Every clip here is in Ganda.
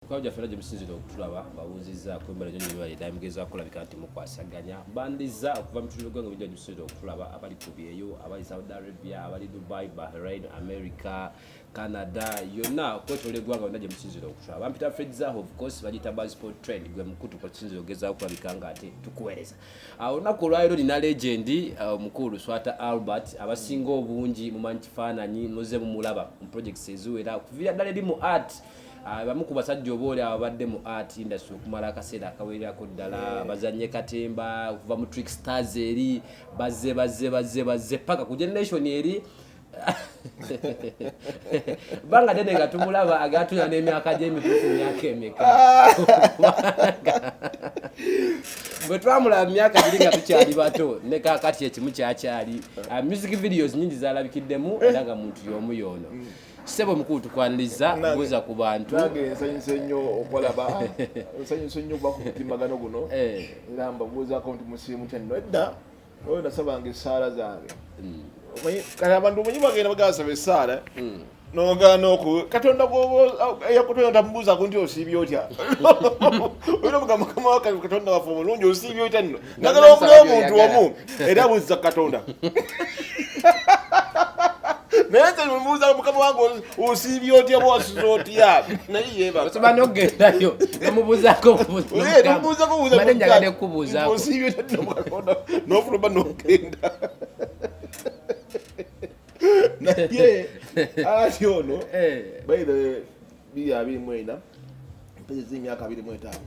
Mukama gyaffe era gye musinzira okutulaba babuuzizzaako emmere gyonna ebibala eddaala mugezaako olabika nti mukwasaganya bandizza okuva mu bitundu by'eggwanga ebintu gyemusinzira okutulaba abali ku byeyo abali saudi arabia abali dubai bahrain america canada yonna okwetoola eggwanga yonna gye musinzira okutulaba bampita fredzaho of course bagiyita basport trend gwe mukutu kwetusinzira okugezaako okulabika nga ate tukuweereza ah, olunaku olwaliro nina legendi ah, omukulu swata albert abasinga obungi mumanyi kifaananyi muze mumulaba mu projects eziwera okuviira ddala eri mu art Ah, bamu ku basajja oba oli ababadde mu art industry okumala akaseera akawererako ddala bazanye katemba okuva mu trick stars eri bazze bazze bazze bazze paka ku generation eri banga dene nga tumulaba agatuna n'emyaka gy'emituufu myaka emeka bwe twamulaba myaka giri nga tukyali bato ne kakati ekimu kyakyali ah, music videos nyingi zalabikiddemu era nga muntu y'omu yoono mm. sebo mukulu tukwaniriza buza ku bantu nange nsanyuse nnyo okulaba nsanyuse nnyo okuba ku mutimbagano guno eh. era mbabuuzako nti musiimu kya nno edda oyo nasabanga essaala zange mm. kati abantu omanyi bagenda bagasaba essaala mm. nogana oku katonda yakutonda tamubuuzaku nti osiibye otya olina mugamba mukama wakatonda waffe omulungi osiibye otya nno njagala obula omuntu omu era buzza katonda naye nze mubuuza mukama wange osiibye otya bwosiza otya naye yebaosoba nogendayo nomubuuzako buuzanjagadekubuuzaosiibye otya nofuluma nogenda naye ati ono eh. baire biri abiri mwena mpezi z'emyaka abiri mwetaano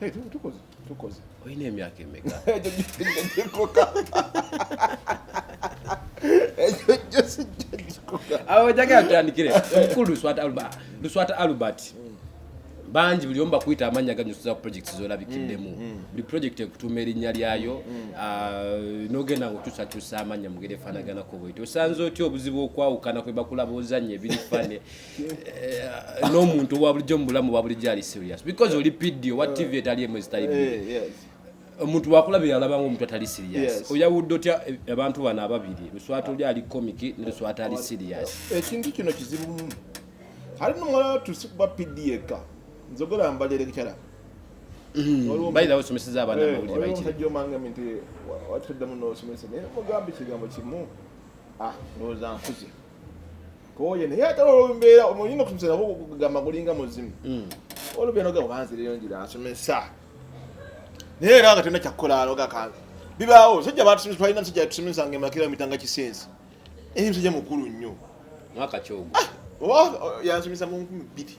Hey, tukoze tukoze olina emyaka emeka awajagala tutandikire omukulu luswata albert luswata albert bangi buli omu bakuyita amannya ganyusiza ku projects zolabikiddemu mm, mm. buli project ekutuuma erinnya lyayo mm, ah, nogenda nga okyusakyusa amannya mugere efanaganako bweti osanze otya obuzibu okwawukana kwebakulaba ozanya ebiri fane Eh, n'omuntu owa bulijjo mu bulamu bwa bulijjo ali serious because oli pidi owa tv etali emu ezitali eh, bbi omuntu wakulaba yalaba ngaomuntu atali serious oyawudde otya abantu bano ababiri luswata oli ali komiki ne luswata ali serious ekintu kino kizibumu ali nomulala tusikuba pidi yekka nzogera mbalierekyala mm-hmm. bayirawo osomeseza abaana eh, amawulire bayikiomanga nti watuddamu nosomesa naye mugambe kigambo kimu ah, ndowooza nkuze oye naye ate olumbeera olina okumusera kugamba gulinga muzimu hmm. olumbeera ogamba banzireyo njira asomesa naye era nga tena kyakukola aloga kange bibaawo musajja batusomesa twalina musajja yatusomesa nga emakira mitanga kisenzi eri musajja mukulu nnyo mwaka kyogo ah, yansomesa mu nkumi bbiri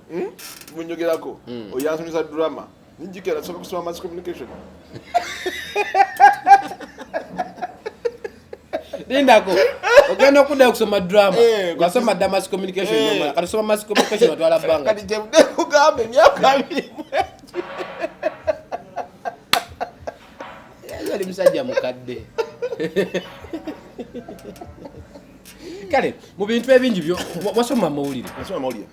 Hmm? munyogerako hmm. oyo ansomesa drama nijikera tusoka kusoma mass communication lindako ogenda okudda okusoma drama eh, wasoma dda mass communication eh. kati soma mass communication watwala bbanga kati gyemudekugamba emyaka abiri yali musajja mukadde kale mu bintu ebingi byo wasoma amawulire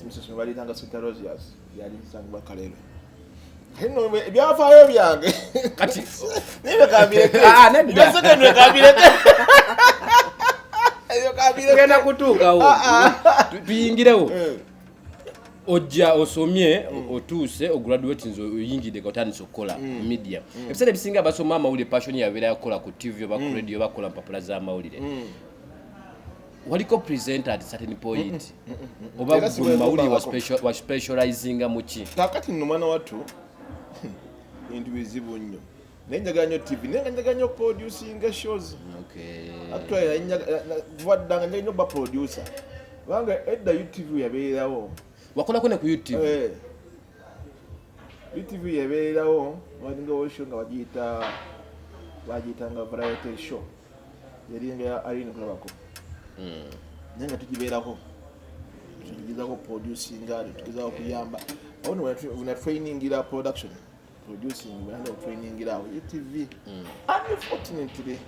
emisosoma balitanga sita rosias yali sangibwa kalero ebyafaayo byange kati nibyo kambirekesekendwe kambireke genda kutuukawo ah, ah. tuyingirewo eh. ojja osomye mm. otuuse ograduate nze oyingidde otandise okukola mm. media mm. ebiseera ebisinga basoma amawulire passion yabeera yakukola ku tv oba ku radio oba kukola mpapula z'amawulire waliko presenter at certain point oba gwe mawuli wa special wa specializing muki kakati no mwana watu bintu bizibu nnyo naye njagala nnyo tv naye nga njagala nnyo producinga shows atwaddanga njagala nnyo ba producer kubanga edda utv yabeererawo wakolako ne ku utv eh. utv yabeererawo walingawo show nga bagiyita bagiyitanga variety show yali nga ya Irene kulabako hmm. naye nga tugibeerako tugezako producinga tugezako kuyamba ono wena trainingira production producing wena trainingira awo etv hmm. unfortunately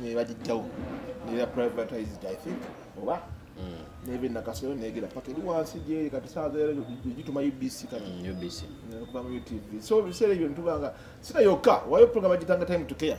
nebagijjawo nera privatized i think oba hmm. nebe nakasero negera paka eri wansi gyeri kati saaza era gituma ubc kati ubc kuva mu utv so biseera ebyo nitubanga sina yokka wayo program agitanga time to care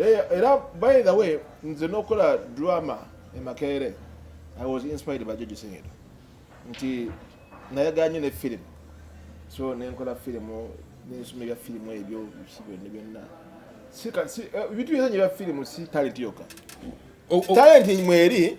Eh, era by the way nze nokola drama emakerere i was inspired by george senyero nti nayaganye ne film so nenkola filimu nensoma ebya filimu ebyo byonna byonna eh, ebintu byona ebya filimu si talenti yoka talenti mweri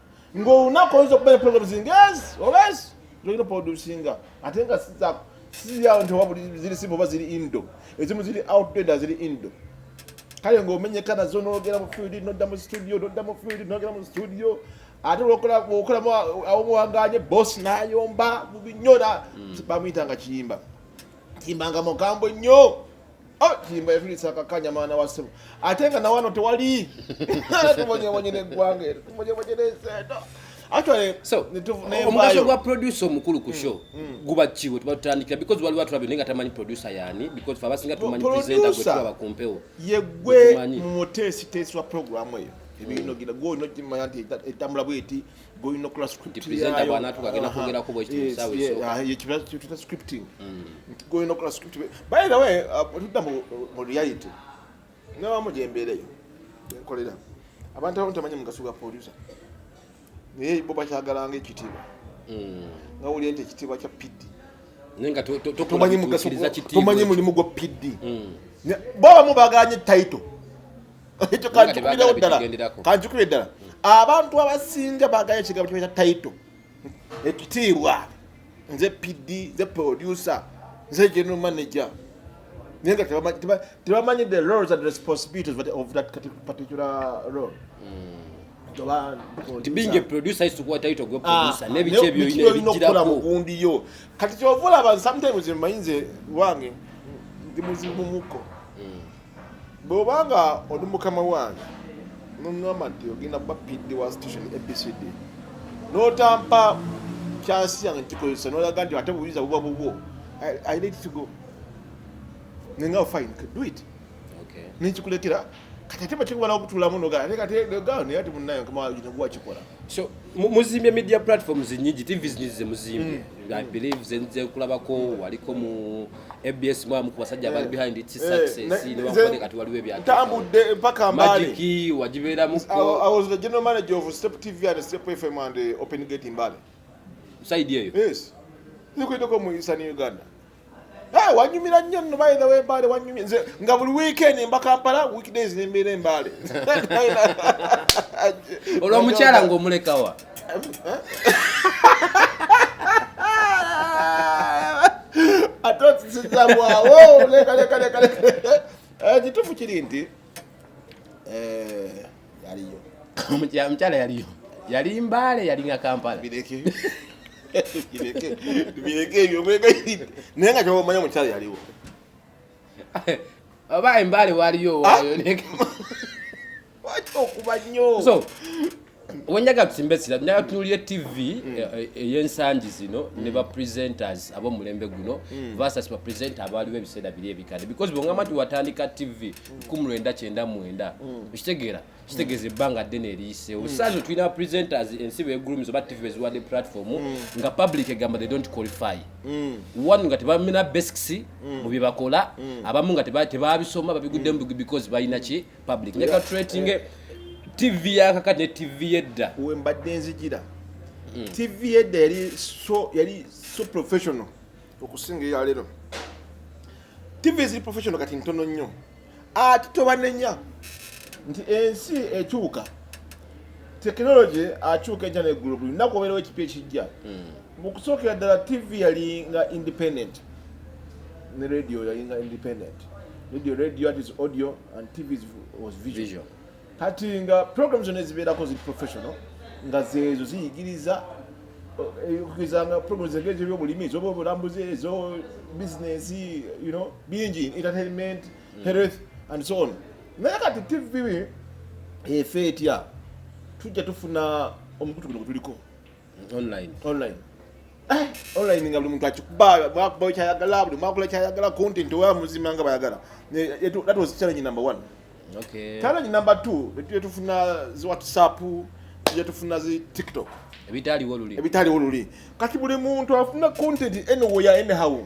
ng'olunaku oyinza okubeera program zingezi obesi zolina producinga ate nga sizako siziyawo nti wabuli ziri simba oba ziri indo ezimu ziri outdoor ziri indo kale ng'omenyeka nazo nogera mu field nodda mu studio nodda mu field nogera mu studio ate okolamu awomuwaganye boss nayomba mubinyora mm. bamuyitanga kiyimba kiyimbanga mugambo nnyo Oh, kiyimba yatulisa akakanya mwana wa ssebo ate nga nawano tewali tubonyebonye neggwanga ero tubonyebonye neseeto omugaso gwa producer omukulu ku mm, show mm. guba kiwe tuba tutandikira because waliwo atulabye naye nga tamanyi producer yani because fe abasinga tumanyi presenta gwe tulaba ku mpewo yegwe muteesiteesi wa programu eyo ebinogira mm. gwe olina okimanya nti etambula bweti boyina okola scriptyayotuta scripting nti goyina okola script by the way tudda uh, mu reality newamu gyembeereyo enkolera abantu abamu tamanyi mugaso gwa producer naye bo bakyagalanga ekitiibwa mm. nga wulira nti ekitiibwa kya pidi tomanyi mulimu gwa pidi mm. bo abamu bagalanye title ekyo kanjukubirawo ddala kanjukubire ddala abantu abasinga bagala ekigambo kyebaita taito ekitiibwa nze pd nze producer nze general manager naye nga tebamanyi the roles and responsibilities of that particular role mm. tibingeproduceisikuwataitogundi kati kyovulaba sometimes manyinze wange ndi muzibu muko bw'oba nga oli mukama wange noŋŋamba nti ogenda kuba pd wa station abcd n'otampa kyansi yange nkikozesa nolaga nti ate buyinza buba bubwo i let to go nenga fine do it nenkikulekera kati ate bakiwala okutulamu nogaati munaye wakikola so muzimbye media platforms nyingi tv nyingi zemuzimbye mm. i believe zenze kulabako waliko mu ABS mwamu kubasajja abali eh. behind its eh, success ne bakubade kati waliwo ebyatu tambudde mpaka mbale magiki wajibeera muko I was the general manager of Step TV and Step FM and eh, Open Gate in Mbale side yeyo yes nikuitoko mu Eastern Uganda Hey, wanyumira nnyo nno by the way Mbale wanyumira nze nga buli weekend mba Kampala weekdays ne mbeera Mbale olwo mukyala ng'omulekawa ekitufu kiri nti eh, yaliyo omukyala yaliyo yali mbaale yalinga kampala bireke ebyo mwegayiride naye nga kyoba omanya omukyala yaliwo oba embaale waliyo owayo ah! so wenjaga tusimbe sira naye tunulire tv mm. eh, eh, eyensangi zino ne ba presenters abomulembe guno mm. versus ba presenter abaaliwo ebiseera biri ebikadde because bwongamba nti watandika tv mm. kumulwenda kyenda mwenda okitegeera kitegeeza ebbanga ddene eriyiseewo saazo tulina presenters ensi begulumiza oba tv beziwadde platform nga public egamba they don't qualify one nga tebamina basics mu byebakola abamu nga tebabisoma babiguddemu because balina ki public ne katreating eh. tv ya kakati ne tv yedda we mbadde nzijira mm. tv yedda yali so yali so professional okusinga ya lero tv ziri professional kati ntono nnyo ati tobanenya nti ensi ekyuka technology akyuka enkya neggulu buli lunaku obeerawo ekipya ekijja mm. mu kusookera ddala tv yali nga independent ne radio yali nga independent radio radio is audio and tv was visual kati nga program zonna ezibeerako zi professional nga zeezo ziyigiriza eh, okugeza nga program zege ezobyobulimi ezobulambuzi ezo business you know bingi entertainment mm. health and so on naye kati tv efe etya tujja tufuna omukutu guno gwetuliko online online eh, online nga buli muntu akikuba bwakuba kyayagala buli mwakula kyayagala content owa muzima nga bayagala that was challenge number one okay challenge number two betuje tufuna zi whatsapp tuje tufuna zi tiktok ebitaliwo luli ebitaliwo luli kati buli muntu afuna content anywhere anyhow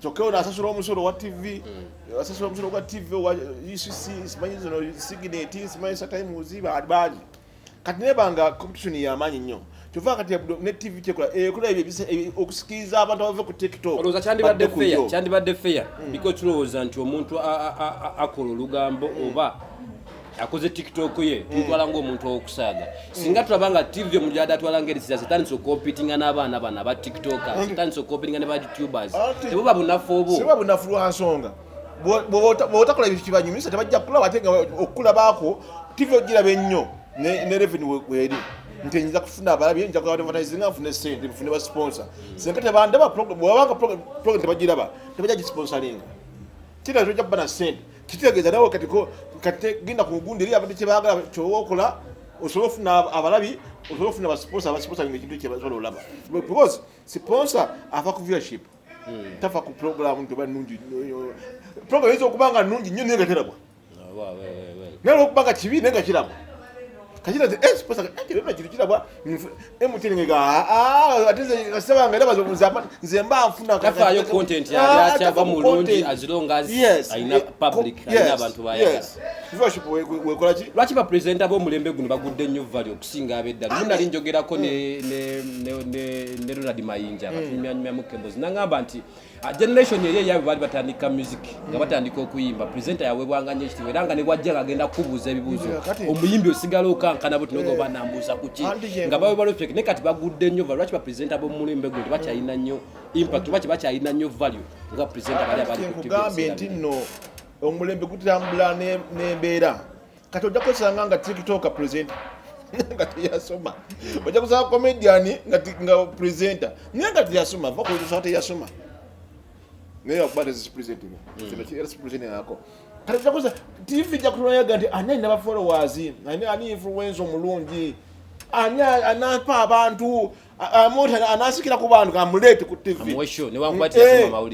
kyokka ono asasula omusolo wa tv mm. asasula omusolo gwa tv owa ucc simanyi zino sigineti simanyi satimes bangi kati nebanga competition yamaanyi nnyo kyova kati ne tv kyekola ekola ebyo okusikiriza abantu abave ku tiktok olowooza kyandibadde feya kyandibadde feya mm. biko tulowooza nti omuntu akola olugambo mm. oba akoze tiktok ye tumutwala mm. ngaomuntu owokusaaga singa tulaba nga tv omujada atwala nga erisira zitandisa okompitinga n'abaana bano aba tiktoka mm. zitandisa okompitinga ne ba youtubers tebo babunafu obwo siba bunafu lwansonga bwotakola ebintu kibanyumisa tebajja kulaba ate nga okukulabako tv ogiraba ennyo ne reveni weri nti enyinza kufuna abalabi nja kuba advertisinga nfune sente nfune ba sponsor mm. singa tebandaba bwabanga program tebagiraba tebajja gisponsoringa kira toja kuba na sente kitegeeza nawe kati kati genda ku mugundi eri abadde kyebagala kyoba okola osobola ofuna abalabi osobola ofuna basiponsa abasiponsa nga ekintu kyebasobola olaba because siponsa ava ku viewership hmm. tafa ku programu nti oba nungi programu eyinza okuba nga nungi nnyo naye nga terabwa naye olwokuba nga kibi naye nga kirabwa kati nze eh siposa eh kile na kile kila bwa eh mutini ngega ah, ah ati nze kasaba ngela bazo muzapa nze mba mfuna kaka kafa yo content ya ah, ya chava mulungi as long as yes, aina eh, public yes, aina abantu ba yaka yes viewership we we kola ki lwaki ba presenter bo mulembe guno bagudde nnyo value okusinga abedda muna ah, linjogerako ne mm. ne ne ne Ronald Mayinja mm. batumya nyuma mukembozi nangamba nti Ah, generation eyo eyabwe baali batandika music nga batandika okuyimba presenta yawebwanga nyo ekitiibwa era nga ne bwajja nga agenda kukubuuza ebibuuzo omuyimbi osigala okankana buti noga eh. banambuuza kuki nga bawe balofek naye kati bagudde nnyo va lwaki bapresenta bomumulimbe gwe tebakyalina nnyo impact oba tebakyalina nnyo value nga presenta bali abalikugambye nti nno omulembe gutambula n'embeera kati ojja kwesanga nga tiktoka presenta nga teyasoma ojja kusanga comedian nga presenta naye nga teyasoma va kusa teyasoma naye akuba tezisipresentinga hmm. kino kiera sipresentinga ako kati ojja kusa tv ja kutulayaga nti ani alina bafollowers ani ani influensa omulungi ani anapa abantu amuntu anasikira ku bantu amuleete ku tv hmm.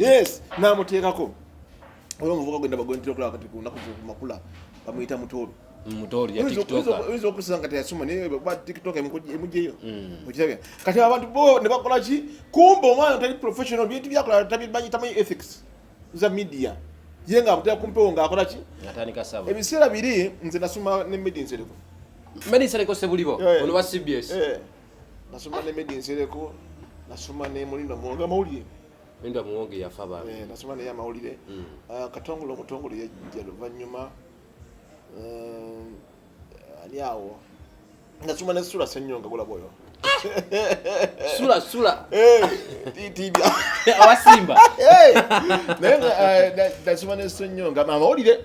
eh, namuteekako Oyo muvuka gwenda bagwentira kula kati kunaku kumakula bamuyita mutoro. Mutoro ya TikTok. Wizo okusanga kati yasoma ne ba TikTok emujeyo. Mm. Okirabya. Kati abantu bo ne bakola ki kumba omwana tali professional bintu byakola tabi banyi tamanyi ethics za media. Ye nga abutya kumpewo nga akola ki? Natandika sabo. Ebiseera biri nze nasoma ne Medin Sereko. Medin Sereko sebulibo. Eh. Ono wa CBS. Eh. Nasoma ne Medin Sereko. Nasoma ne Mulino Mwanga Mawulire. Enda muwonge yafa bambi. Eh, nasoma naye amawulire. Mm. Uh, katongole omutongole yajja luvannyuma. Uh, ani awo. Nasoma ne Sula Senyonga gulaba oyo. sula sula eh, tibya awasimba eh, naye eh, nasoma ne Senyonga amawulire.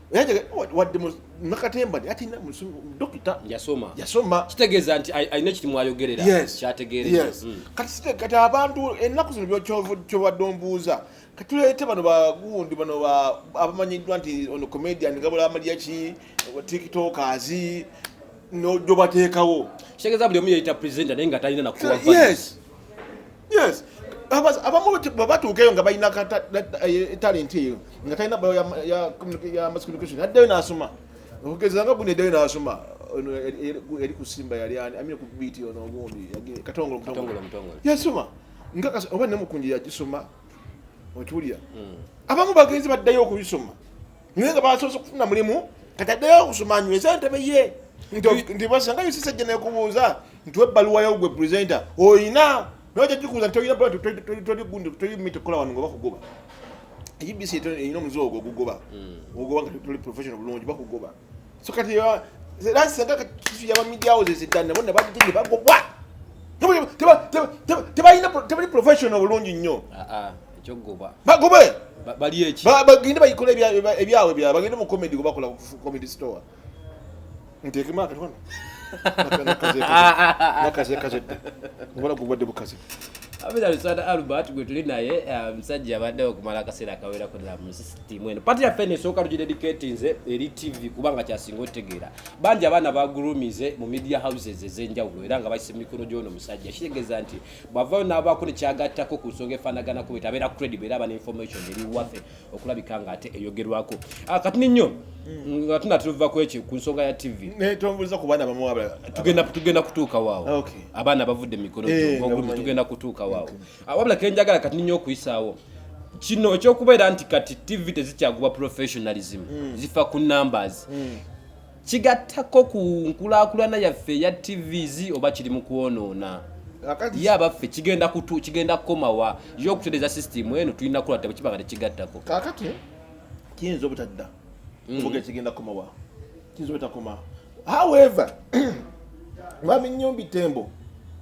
wadde nakatemba nti ati dokita yasoma yasoma kitegeeza nti alina ekiti mwayogerera kyategeerera hmm. kati kati abantu ennaku zino kyobadde ombuuza katuleete bano bagundi bano abamanyiddwa nti ono comedian gabula amalya ki tiktokers nojobateekawo kitegeeza buli omu yeyita presenter naye nga talina nakuwa yes yes abamu batuuka eyo nga balina eh, talenti eyo nga talina bayo ya mass communication addayo n'asoma okugeza nga guno eddayo n'asoma ono eri ku simba yali ani amine ku biiti ono ogundi katongolo mutongolo yasoma nga oba nemukunji yagisoma okiwulira hmm. abamu bagenzi baddayo okubisoma naye nga basoose okufuna mulimu kati addeyo okusoma anyweza entebe ye nti basanga yosisajja nekubuuza nti webbaluwa yo gwe presenta olina naye kyajikubuza nti olinaolimita okukola wano nga bakugoba ebc erina omuze ogwo ogugoba hmm. ogugoba nga toli professional bulungi bakugoba so kati era singa katisu yabamidia houses eddani nabo nabadde ne bagobwa tebalina tebali professional bulungi nnyo ah, ah. ekyogoba bagobe bali eki bagende bayikole ebyawe bya bagende mu comedy kubakola comedy store ntekemu akati wano nakazekazedde ngola gubadde bukazi abera lusana albert gwe tuli naye eh, musajja abadde okumala akaseera akawerako ddala mu sisitimu eno pati yaffe eno esooka tugidedicatinze eri tv kubanga kyasinga otegeera bangi abaana bagurumize mu media houses ezenjawulo era nga bakisa mumikono gyono musajja kitegeeza nti bwavayo n'abaako nekyagattako ku nsonga efaanagana ku bwete abeera credible era aba ne information eri waffe okulabika nga ate eyogerwako ah, kati ninyo mm, nga tuna tuva ku ekyo ku nsonga ya tv tugenda kutuuka waawo abaana abavudde mumikono eh, tugenda kutuuka waawo ah, wabula kenjagala kati ninyo okuyisaawo kino ekyokubeera nti kati tv tezikyagubwa professionalism mm. zifa ku numbers mm. kigattako ku nkulakulana yaffe eya tvs oba kiri mu kwonoona ye abaffe kigenda kutu kigenda kukomawa yo okutereza system eno tulina kukola tabo kiba nga tekigattako kakati kiyinza obutadda mm. kuvuga kigenda kukomawa kiyinza obutakoma however mwami nyombi tembo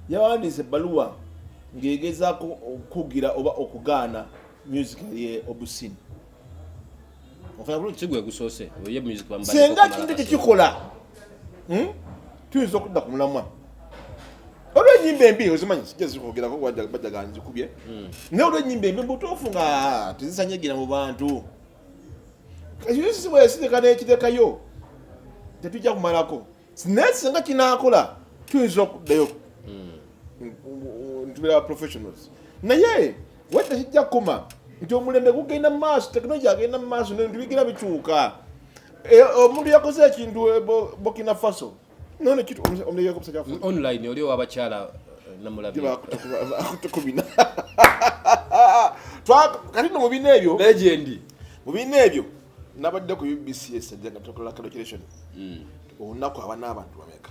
yawandiise ebbaluwa ng'egezaako okukugira oba okugaana music ye obusini senga kintu kyekikola hmm? tuyinza okudda ku mulamwa olwo enyimba embi ozimanyi sijazikwogeraku bajaga nzikubye hmm. naye olwo enyimba embi mubutuufu nga tezisanyagira mu bantu ekisisiwesireka nekirekayo tetujja kumalako naye singa kinakola tuyinza okuddayo hmm. ntubera professionals naye wadde kijja kukoma nti omulembe gugenda mumaaso tekinologi agenda mumaaso nebintu bigenda bikyuka e, omuntu yakoze ekintu e, bokina faso online oli owabakyala e, namulabakutukubina kati no mubina ebyo legendi mubina ebyo nabadde ku ubcs ejagatoclaration hmm. olunaku abana abantu bameka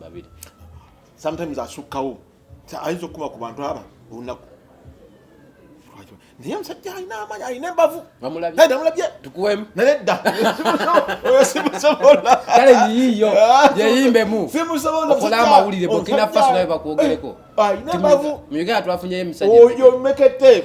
babiri sometimes asukkawo ayinza okukuma ku bantu aba olunaku naye omusajja alina amaanyi alina embavu namulabye tukuwemu naye dda oyo simusobola kale yiyiyo yeyimbemu okola amawulire bokina faso nawe bakwogereko alina embavu mu uganda twafunyeyo emisajja oyo mekete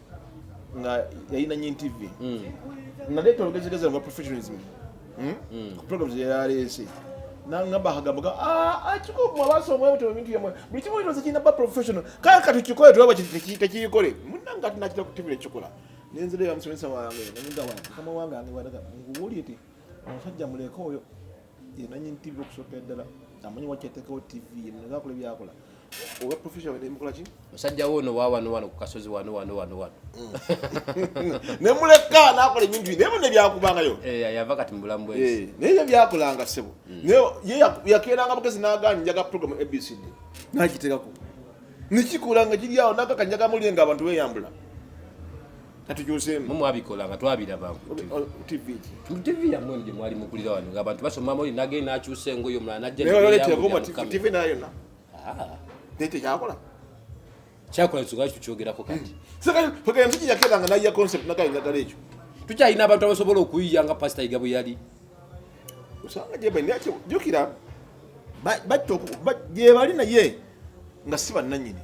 nga yalina nyi TV mm. naleeta olugezigezi lwa professionalism hmm? mm. ku programs yeyaleese nangamba akagambo ga ah, akikubu ah, abaasa omwebuto ebintu yamwe buli kimu kino kirina ba professional kale kati kikole tulaba tekiyikole munanga ati nakita kutibira ekikola nenzira ya musomesa wange namugamba mukama wange ange wadaga nguwulire ti omusajja muleka oyo yenanyini tv okusokera ddala amanyi wakyatekawo tv yenazakola ebyakola oba profession wene mukola ki musajja wo no wawa no wano ku kasozi wano wano wano wano ne muleka nakola ebintu ne bone byakubanga yo eh yava kati mbulam boys eh ne ye byakulanga sebo mm. ne ye yakera nga bukezi nagani njaga program abcd najiteka ko nikikulanga kiri awo naka kanjaga mulinga abantu beyambula katujuzeemu mwabikola nga twabiraba tv yamwe gye mwali mukulira wano ngaabantu basoma moli nage nakyusa engoyo omulala najjatv nayona naye tekyakola kyakola nsoga kikyogerako kati pagala nti yakera nga nayiya concept naga endagala ekyo tukyalina abantu abasobola okuyiya nga pasita yiga bwe yali osanga jukira gyebali naye nga si bannanyini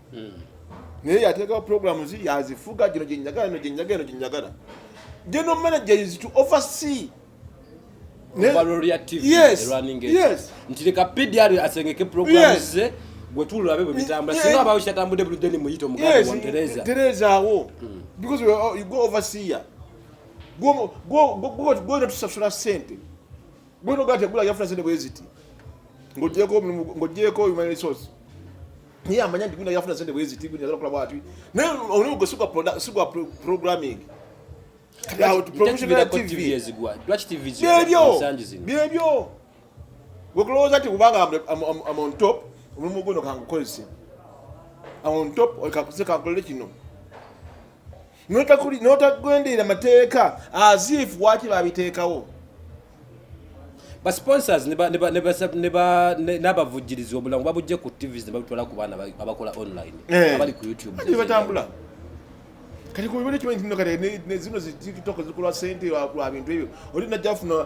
hmm. naye yateekawo programu zi yazifuga gino gyenyagala no gyenyagala no gyenyagala general manager is to oversee ntireka pdr asengeke programu ze gwetulabe bwebitambula singa abawo kyatambudde bulidde ni muyita omuganda wontereza terezaawo hmm. because you go overseer gwona tusasula sente gwona ogala tegula yafuna sente bweziti ng'ogyeko human resource naye amanya nti guyina yafuna sente bweziti guyina yagala okola bwati naye omulimu gwe sigwa programming byebyo wekulowooza nti kubanga am on top omulimu guno kangukozese am on top kakuze kankolere kino n'otagwenderera mateeka azifu waki babiteekawo basponsors n'abavujjirizi obulango babujje ku tvs ne babitwala ku baana abakola online eh. abali ku youtubebatambula kati kubibona ekimanyi kino kati zino zititoka zikolwa sente lwa bintu ebyo oli najja afuna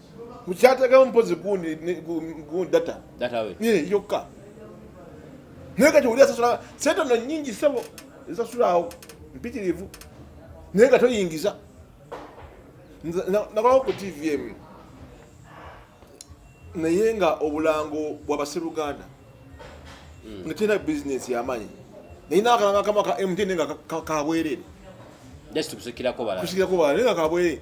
mukyatagamu mpozi gundi data yokka naye kati oli asasula sente no nyingi sebo ezasulaawo mpitirivu naye nga toyingiza nakolawo ku tv emu naye nga obulango bwabaseruganda hmm. nga tena bizinesi yamanyi naye nakalanga kama ka mtn nga kabwerere kusikirako bala naye nga kabwerere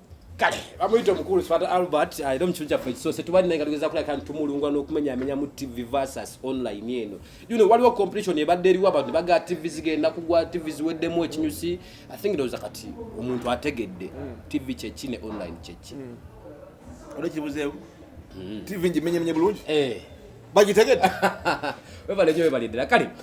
kale bamuyita omukulu sifata albert era ah, omukitundu kyaffe ekisose tubali naye nga tugeza kulabika nti tumulungwa n'okumenyamenya mu tv versus online eno you know waliwo competition ebadde eriwo abantu ne bagaa tv zigenda kugwa tv ziweddemu ekinyusi i think ndowooza kati omuntu ategedde hmm. tv kyeki ne online kyeki hmm. olwekibuzeewo hmm. tv ngimenyamenye bulungi eh. bagitegedde webale nyo webale ddala kale